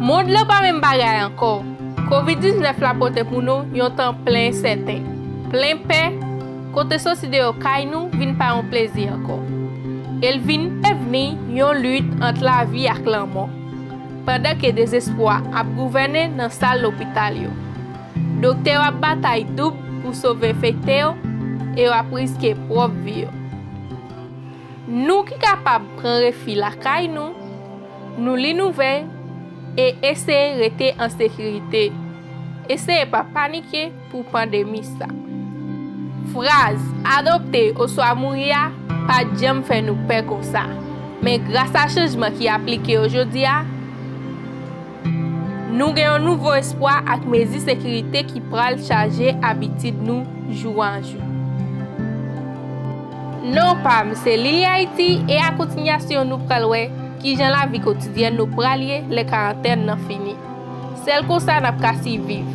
Mond lan pa menm bagay ankò. Covid 19 la pote pou nou yon tan plen ensèten, plen pè, kote soti deyò kay nou vin pa yon plezi ankò. E l vin devni yon lit ant lavi ak lanmò, pandan ke dezespwa ap gouvène nan sal lopital yo. Doktè yo ap batay doub pou sove enfekte yo e yo ap riske pwòp vi yo. Nou ki kapab pran refi lakay nou. Nou li nouvèl e eseye rete an sekirite. Eseye pa panike pou pandemi sa. Fraz, Adopte oswa mouri a pa t janm fè nou pè konsa. Men grasa chanjman ki aplike yo jodi a, nou gen yon nouvo espwa ak mezi sekirite ki pral chaje abitid nou jou an jou. Non pam se Lili Haiti e a kontinyasyon nou pral wè kijan lavi kotidyèn nou pral ye lè karantèn nan fini. Sèl konsa nap ka siviv.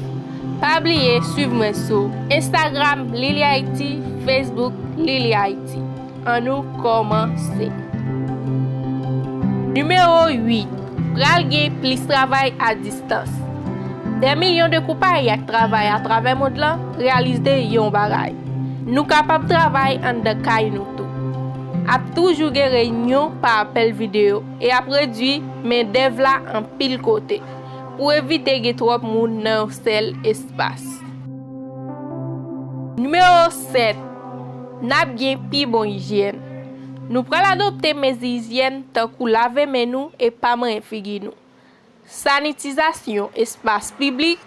Pa bliye swiv mwen sou Instagram Lili Haiti Facebook Lili Haiti. An nou kòmanse. Nimewo 8, Pral gen plis travay a distanc. Dans. Dè milyon de koupay ak travay atravè mond lan reyalizde yon bagay, nou kapab travay anndan kay nou tou. Ap toujou gen reyinyon pa apèl videyo e ap redui mendèv la anpil kote pou evite gen twòp moun nan yon sèl espas. Nimewo 7, N ap gen pi bon ijyèn. Nou pral adopte mezi ijyèn tankou lave men nou e pa manyen figi nou. Sanitizasyon espas piblik,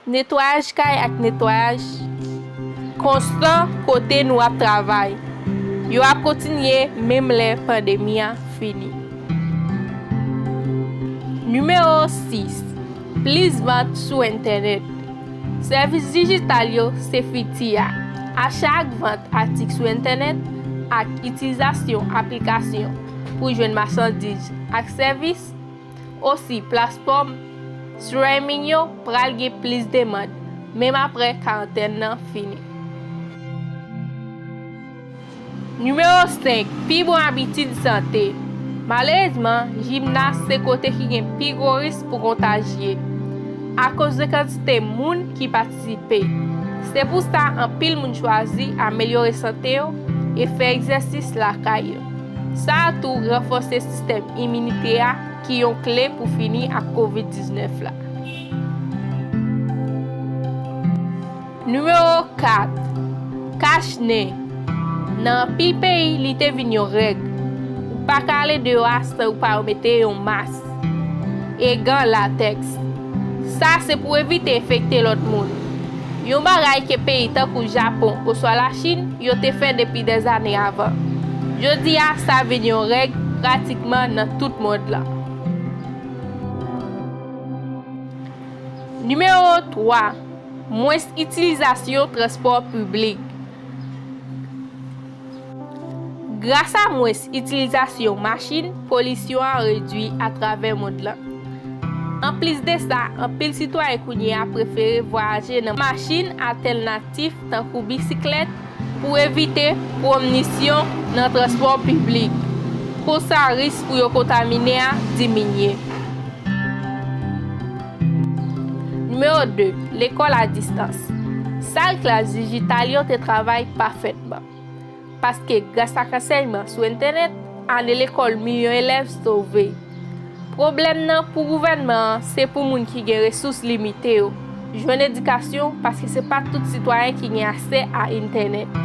netwayaj kay ak netwayaj konstan kote nou ap travay yo ap kontinye menm lè pandemi a fini. Nimewo 6, Plis vant sou entènèt Sèvis dijital yo se fiti a. Acha ak vant atik sou entènèt ak itilizasyon aplikasyon pou jwenn machandiz ak sèvis, Osi, platfòm streaming yo pral gen plis demand, menm apre karantèn nan fini. Nimewo 5, Pi bon abitid sante. Malerezman, jimnas se kote ki gen pi gwo risk pou kontajye, akoz de kantite moun ki patisipe. Se pou sa anpil moun chwazi amelyore sante yo e fè egzèsis lakay yo. Sa a tou ranfòse sistèm iminite a ki yon kle pou fini ak Kovid 19 la. Nimewo 4, Kach nen, Nan anpil peyi li te vin yon règ. Ou pa ka ale deyò a san ou pa mete yon mas. e gan latèks. Sa se pou evite enfekte lòt moun. Yon bagay ke peyi tankou Japon oswa Lachin yo te fè depi dèzane avan. Jodi a sa vin yon règ pratikman nan tout mond lan. Nimewo 3, Mwens itilizasyon transpò piblik. Grasa mwens itilizasyon machin, polisyon an redui atravè mond lan. Anplis de sa, anpil sitwayen kounye a prefere vwayaje nan machin atèlnatif tankou bisiklèt pou evite pwomnisyon nan transpò piblik. Konsa risk pou yo kontamine a diminye. Nimewo 2, Lekòl a distans Sal klas dijital yo te travay pafètman. Manman. Paske gras ak ansèyman sou entenèt, ane lekòl milyon elèv sove. Pwoblèm nan pou gouvènman an se pou moun ki gen resous limite yo jwenn edikasyon paske se pa tout sitwayen ki gen asè a entènèt.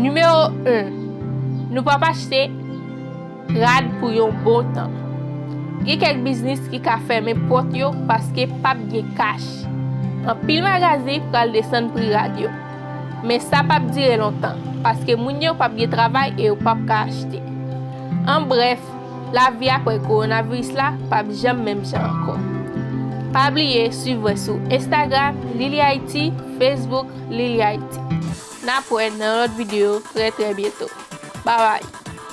Nimewo 1, Nou p ap achte. Rad pou yon bon tan. Gen kèk biznis ki ka fèmen pòt yo paske pap gen kach. Anpil magazi pral desann pri rad yo. Men sa pap dire lontan, paske moun yo pap gen travay e yo pap ka achte. An brèf, lavi aprè kowonaviris la pap janm menm jan ankò. Pa bliye swiv mwen sou Instagram Lily Haiti, Facebook Lily Haiti. Nap wè nan lòt video trè trè byento. Babay!